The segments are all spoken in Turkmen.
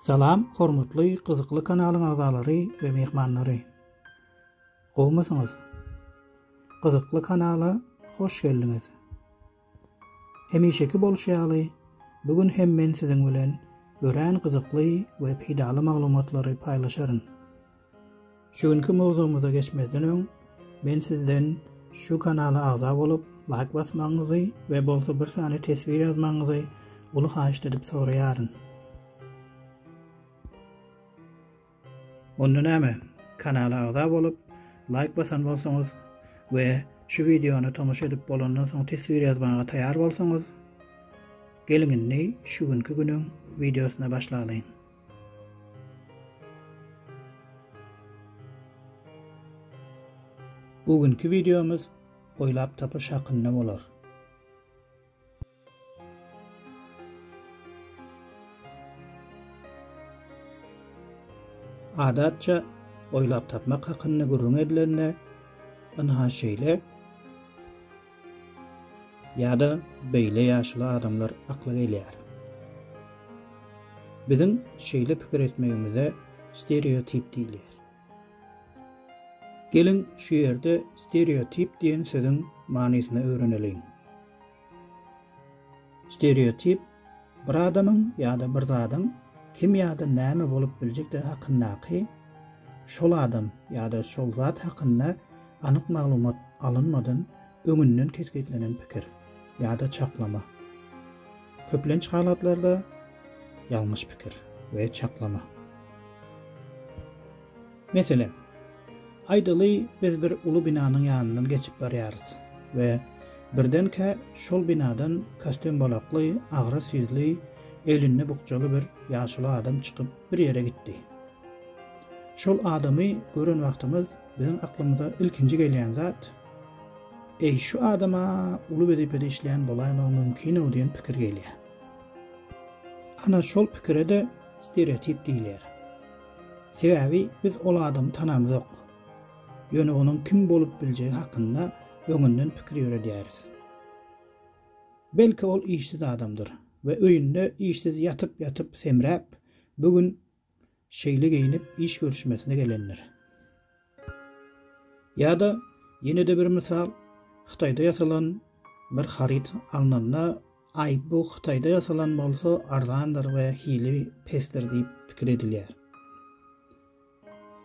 Salam hormatly gyzykly kanalyň agzalary we myhmanlary. Gowmysyňyz? Gyzykly kanala hoş geldiňiz. Hemişeki bolşy ýaly bu gün hem men siziň bilen örän gyzykly we peýdaly maglumatlary paýlaşaryn. Şu günki mowzugymyza geçmezden öň men sizden şu kanala agza bolup laýk basmagyňyzy we bolsa bir sany teswir ýazmagyňyzy uly haýyşt edip soraýaryn. Onda näme, kanala agza bolup laýk basan bolsaňyz we şu wideony tomaşa edip bolandan soň teswir ýazmaga taýar bolsaňyz, geliň indi şu günki günüň wideosyna başlalyň. Bu günki videomuz oýlap tapyş hakynda bolar. Adatça oýlap tapmak hakynda gürrüň edilende, ynha şeýle Ýa-da beýle ýaşuly adamlar akla gelýär. Biziň şeýle pikir etmegimize stereotip diýilýär. Geliň, şu ýerde stereotip diýen sözüň manysyny öwreneliň. Stereotip Bir adamyň ýa-da bir zadyň kim ýa-da näme bolup biljekdigi hakyndaky, şol adam ýa-da şol zat hakynda anyk maglumat alynmadan öňünden kesgitlenen pikir ýa-da çaklama. Köplenç halatlarda ýalňyş pikir we çaklama. Meselem, aýdaly biz bir uly binanyň ýanyndan geçip barýarys we birdenkä şol binadan kostýumbalakly, agras ýüzli, elinde bukjaly bir ýaşuly adam çykyp bir ýere gitdi. Şol adamy gören wagtymyz biziň aklymyza ilkinji gelýän zat, Eý, şu adam-a uly wezipede işleýän bolaýmagy mümkin-ow diýen pikir gelýär. Ana şol pikire-de stereotip diýilýär. Sebäbi biz ol adamy tanamzok. Ýöne onuň kim bolup biljegi hakynda öňünden pikir ýöredýäris. Belki ol işsiz adamdyr we öýünde işsiz ýatyp-ýatyp semräp, bu gün şeýle geýnip iş görüşmesine gelendir. Ýa-da ýene-de bir mysal, Hytaýda ýasalan bir haryt alnanda, aý, bu Hytaýda ýasalan bolsa arzandyr we hili pesdir diýip pikir edilýär.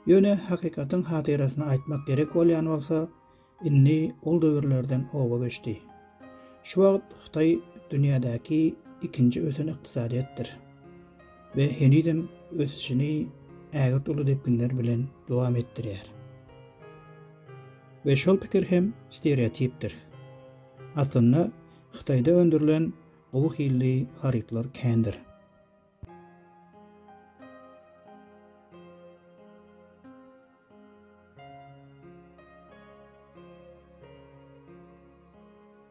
Ýöne hakykatyň hatyrasyna aýtmak gerek bolýan bolsa, Indi ol döwürlerden oba geçdi. Şu wagt Hytaý dünýädäki ikinji ösen ykdysadyýetdir we henizem ösüşini ägirt uly depginler bilen dowam etdirýär. We şol pikir hem stereotipdir. Aslynda Hytaýda öndürilen gowy hilli harytlar kändir.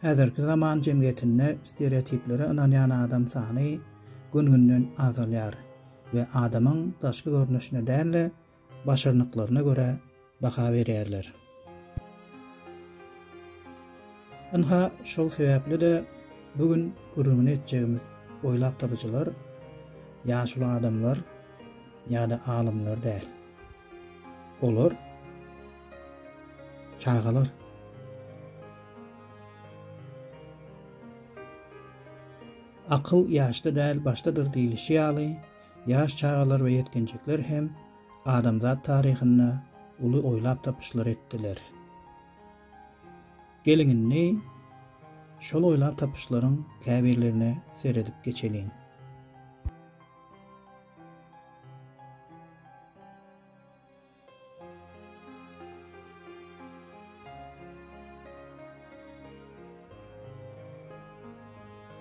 Häzirki zaman jemgyýetinde stereotiplere ynanýan adam sany gün-günden azalýar we adamyň daşky görnüşine däl-de, başarnyklaryna görä baha berýärler. Ynha, şol sebäpli-de bu gün gürrüňini etjegimiz oýlap tapyjylar ýaşuly adamlar ýa-da alymlar däl. Olar çagalar. Akyl ýaşda däl, başdadyr diýlişi ýaly, Ýaş çagalar we ýetginjekler hem adamzat taryhynda uly oýlap tapyşlar etdiler. Geliň indi şol oýlap tapyşlaryň käbirlerine seredip geçeliň.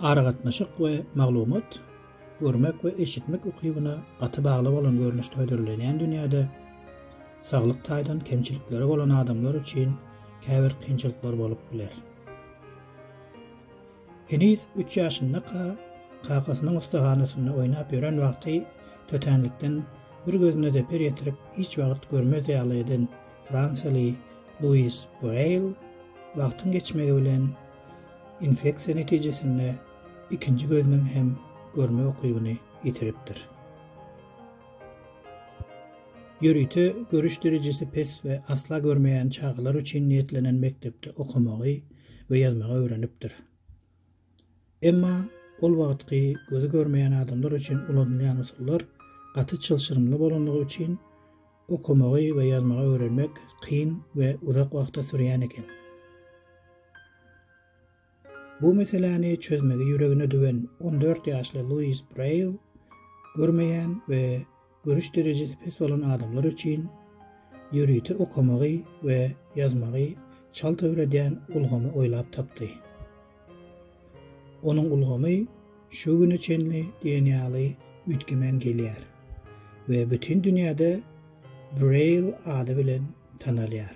Aragatnaşyk we maglumat, görmek we eşitmek ukybyna gaty bagly bolan görnüşde hödürlenýän dünýäde saglyk taýdan kemçilikleri bolan adamlar üçin käbir kynçylyklar bolup biler. Heniz üç ýaşyndaka kakasynyň ussahanasynda oýnap ýören wagty tötänlikden bir gözüne zeper ýetirip hiç wagt görmez ýaly eden fransiýaly Luis Bureýl wagtyň geçmegi bilen infeksiýa netijesinde ikinji gözüniň hem görme ukybyny ýitiripdir. Ýörite görüş derejesi pes we asla görmeýän çagalar üçin niýetlenen mekdepde okamagy we ýazmagy öwrenipdir. Emma ol wagtky gözi görmeýän adamlar üçin ulanylýan usullar gaty çylşyrymly bolanlygy üçin okamagy we ýazmagy öwrenmek kyn we uzak wagta sürýän eken. Bu meseläni çözmegi ýüregine düwen on dört ýaşly Luis Braýl görmeýän we Görüş derejesi pes bolan adamlar üçin ýörite okamagy we ýazmagy çalt öwredýän ulgamy oýlap tapdy. Onuň ulgamy şu güne çenli diýen ýaly üýtgemän gelýär we bütin dünýäde Braýl ady bilen tanalýar.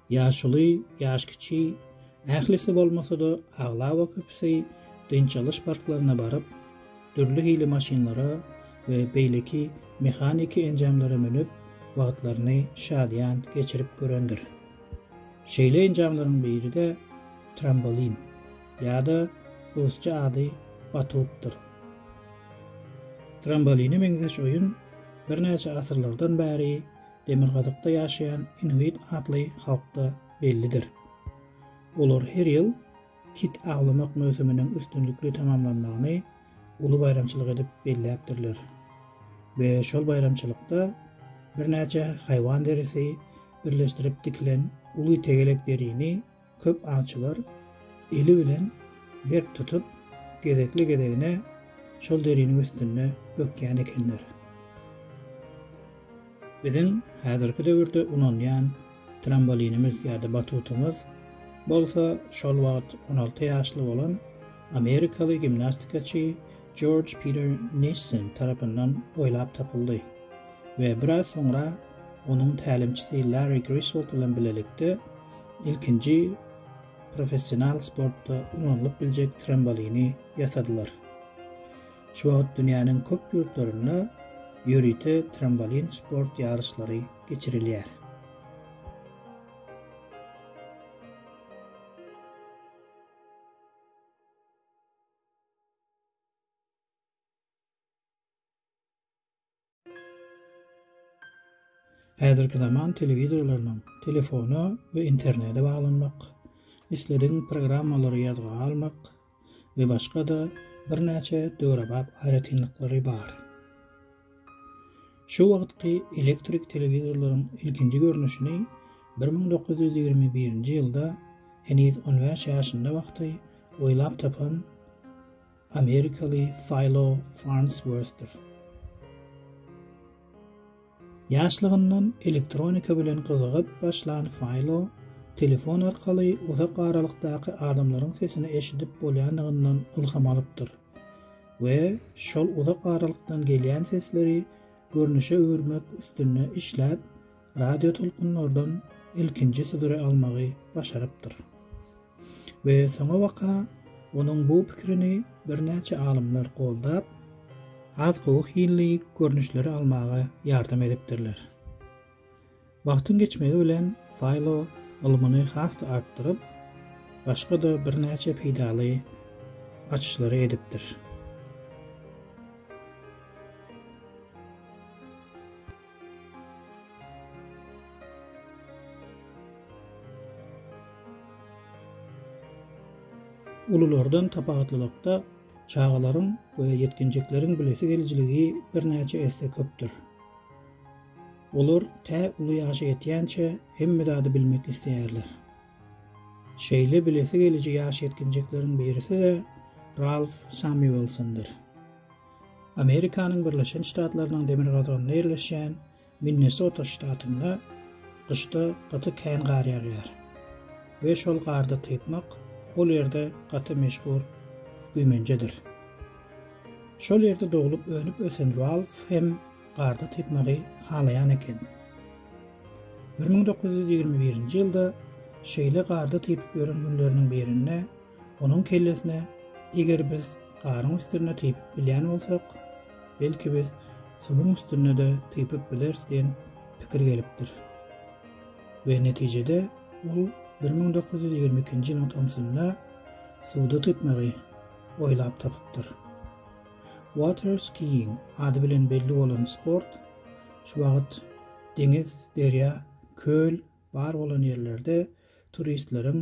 Ýaşuly, ýaş kiçi, ählisi bolmasa-da, aglaba köpüsi dynç alyş parklaryna baryp, dürli hili maşynlara we beýleki mehaniki enjamlara münüp, wagtlaryny şadyýan geçirip görendir. Şeýle enjamlaryň biri-de trambolin, ýa-da rusça ady batutdyr. Tramboline meňzeş oýun birnäçe asyrlardan bäri Demirgazykda ýaşaýan inuit atly halkda bellidir. Olar her ýyl kit awlamak möwsüminiň üstünlikli tamamlanmagyny uly baýramçylyk edip belläpdirler we şol baýramçylykda birnäçe haýwan derisi birleşdirip dikilen uly tegelek derini Köp awçylar eli bilen berk tutup, gezekli-gezegine şol deriniň üstünde bökýän ekenler. Biziň häzirki döwürde ulanýan trambolinimiz ýa-da batutymyz bolsa şol wagt on alty ýaşly bolan amerikaly gimnastikaçy Jorj Piter Nissin tarapyndan oýlap tapyldy we biraz soňra onuň tälimçisi Larri Griswold bilen bilelikde Ilkinji professional sportda ulanylyp biljek trombolini ýasadylar. Şu wagt dünýäniň köp ýurtlarynda ýörite trombolin sport ýaryşlary geçirilýär. Häzirki zaman telewizorlarynyň telefona we internete baglanmak, isledigiň programmalary ýazga almak we başga-da birnäçe döwrebap aýratynlyklary bar. Şu wagtky elektrik telewizorlaryň ilkinji görnüşini bir müň dokuz ýüz ýigrimi birinji ýylda heniz on bäş ýaşynda wagty oýlap tapan Amerikaly Faýlo Farnsworthdyr. Ýaşlygyndan elektronika bilen gyzygyp başlan Faýlo telefon arkaly uzak aralykdaky adamlaryň sesini eşidip bolýandygyndan ylham alypdyr we şol uzak aralykdan gelýän sesleri görnüşe öwürmek üstünde işläp radiotolkunlardan ilkinji suduri almagy başarypdyr. we soňabaka onuň bu pikirini birnäçe alymlar goldap, has gowy hilli görnüşleri almaga ýardam edipdirler. Wagtyň geçmegi bilen Faýlo ylmyny has-da artdyryp, başga-da birnäçe peýdaly açyşlary edipdir. Ululardan tapawutlylykda, çagalaryň we ýetginjekleriň bilesi gelijiligi birnäçe esse köpdür. Olar tä uly ýaşa ýetýänçä hemme zady bilmek isleýärler. Şeýle bilesi geliji ýaş ýetginjekleriň birisi-de Ralf Samýuelsondyr. Amerikanyň Birleşen Ştatlarynyň demirgazygynda ýerleşýän Minnesota ştatynda gyşda gaty kän gar ýagýar we şol garda typmak ol ýerde gaty meşhur güýmenjedir. Şol ýerde doglup önüp ösen Ralf hem garda typmagy halaýan eken. Bir müň dokuz ýüz ýigrimi birinji ýylda şeýle garda typyp ýören günleriniň birinde Onuň kellesine, Eger biz garyň üstünde typyp bilýän bolsak, belki biz suwuň üstünde-de typyp bileris diýen pikir gelipdir we netijede ol bir müň dokuz ýüz ýigrimi ikinji ýylyň tomsunda suwda typmagy oýlap tapypdyr. Water skiing ady bilen belli bolan sport şu wagt deňiz, derýa, köl bar bolan ýerlerde turistleriň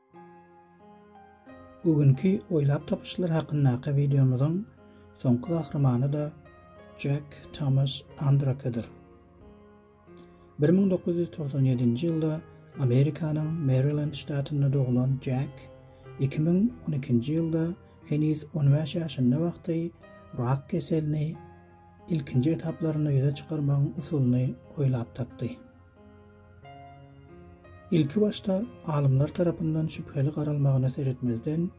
Bu günki oýlap tapyşlar hakyndaky wideomyzyň soňky gahrymany-da Jack Thomas Andrakedir. Bir müň dokuz ýüz togsan ýedinji ýylda Amerikanyň Merilend ştatynda doglan Jack iki müň on ikinji ýylda heniz on bäş ýaşynda wagty rak keselini ilkinji etaplarynda ýüze çykarmagyň usulyny oýlap tapdy. Ilki başda alymlar tarapyndan şübheli garalmagyna seretmezden,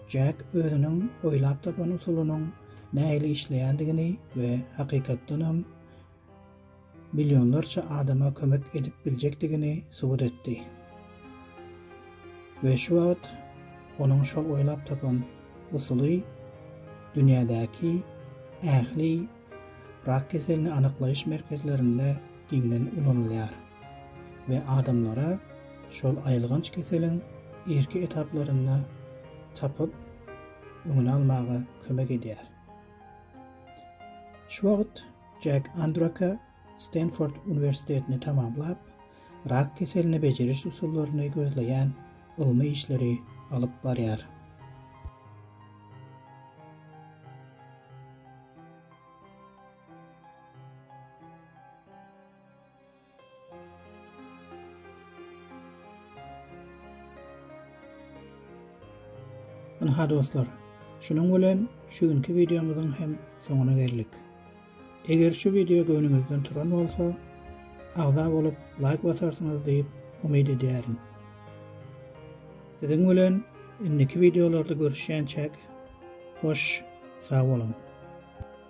Jack özüniň oýlap tapan usulynyň nähili işleýändigini we hakykatdanam millionlarça adama kömek edip biljekdigini subut etdi. We şu wagt onuň şol oýlap tapan usuly dünýädäki ähli rak keselini anyklaýyş merkezlerinde giňden ulanylýar we adamlara şol aýylganç keseliň irki etaplarynda tapyp, öňüni almaga kömek edýär. Şu wagt Jack Andraka Stenford uniwersitetini tamamlap, rak keselini bejeriş usullaryny gözleýän ylmy işleri alyp barýar. Ynha dostlar, şunuň bilen şu günki wideomyzyň hem soňuna geldik. Eger şu wideo göwnüňizden turan bolsa, agza bolup laýk basarsyňyz diýip umyt edýärin. Siziň bilen indiki wideolarda görüşýänçäk, hoş, sag boluň.